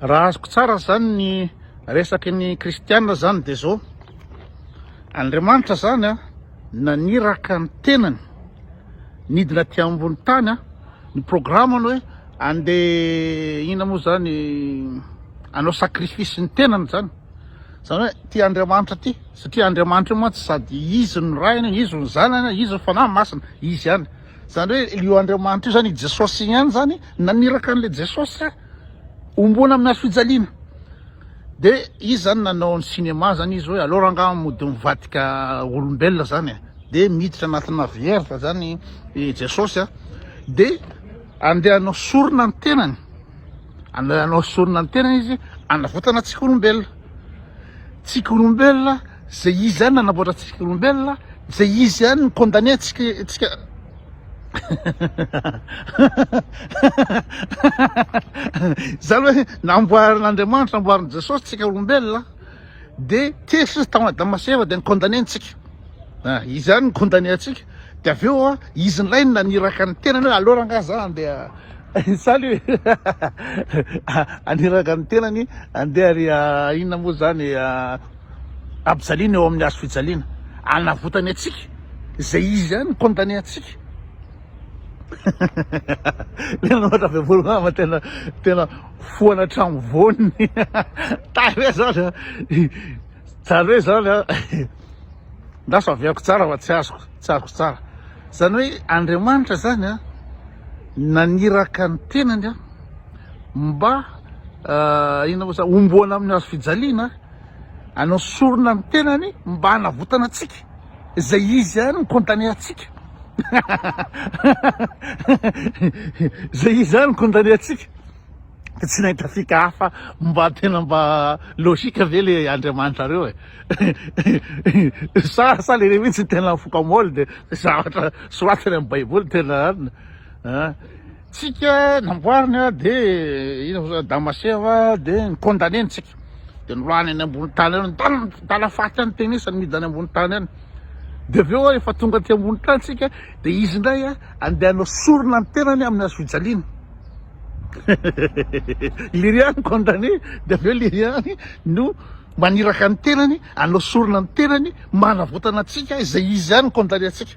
Raha azoko tsara izany ny resaky ny kristiana izany dia izao, Andriamanitra izany naniraka ny tenany nidina aty ambony tany, ny programany hoe andeha inona moa izany hanao sacrifice ny tenany izany, izany hoe ity Andriamanitra ity satria Andriamanitra io mantsy sady izy no rainy, izy no zanany, izy no fanahy masina, izy ihany. Zany hoe io Andriamanitra io zany i Jesosy ihany zany naniraka an'le Jesosy homboana amin'ny hazo fijaliana. De izy zany nanao ny cinéma zany izy hoe aleo rangaha mody mivadika olombelona zany e. De miditra anatina vierge zany i Jesosy a. De andeha hanao sorona ny tenany. Andeha hanao sorona ny tenany izy hanavotana antsika olombelona. Tsika olombelona, izay izy ihany nanamboatra antsika olombelona, izay izy ihany ny condamné antsika antsika Za aloha hoe namboarin'Andriamanitra, namboarin'i Jesosy tsika olombelona dia tezitra izy tao Adama sy Eva dia ni-condamné antsika. Ah, izy ihany ni-condamné antsika. Dia avy eo izy indray no naniraka ny tenany hoe aleo rangahy za handeha salut haniraka ny tenany handeha ry inona moa zany ampijaliana eo amin'ny hazo fijaliana anavotany antsika izay izy zany condamné antsika Lena ohatra avy ambony mama tena tena foana hatramin'ny voany tary hoe zany zany hoe zany Ndaso aviako tsara fa tsy azoko, tsy azoko tsara. Zany hoe Andriamanitra zany a naniraka ny tenany a mba inona moa zany homboana amin'ny hazo fijaliana anao sorona ny tenany mba hanavotana antsika izay izy ihany ny condamné antsika izay izy ihany ny condamné antsika Ka tsy nahita fika hafa mba tena mba logique ve le Andriamanitrareo e? sa sa le mihitsy tena mifoka moly de zavatra soratany amin'ny baiboly tena anona an? Tsika namboarina de ino moa Adama sy Eva de ny condamné ntsika de nilany any ambony tany any mitala faty any tenisany midina any ambony tany any de avy eo efa tonga aty ambony tany tsika de izy indray a andeha hanao sorona ny tenany amin'ny hazo fijaliana Liriano condamné dia avy eo Liriano no maniraka ny tenany hanao sorona ny tenany mba hanavotana antsika izay izy ihany no condamné antsika.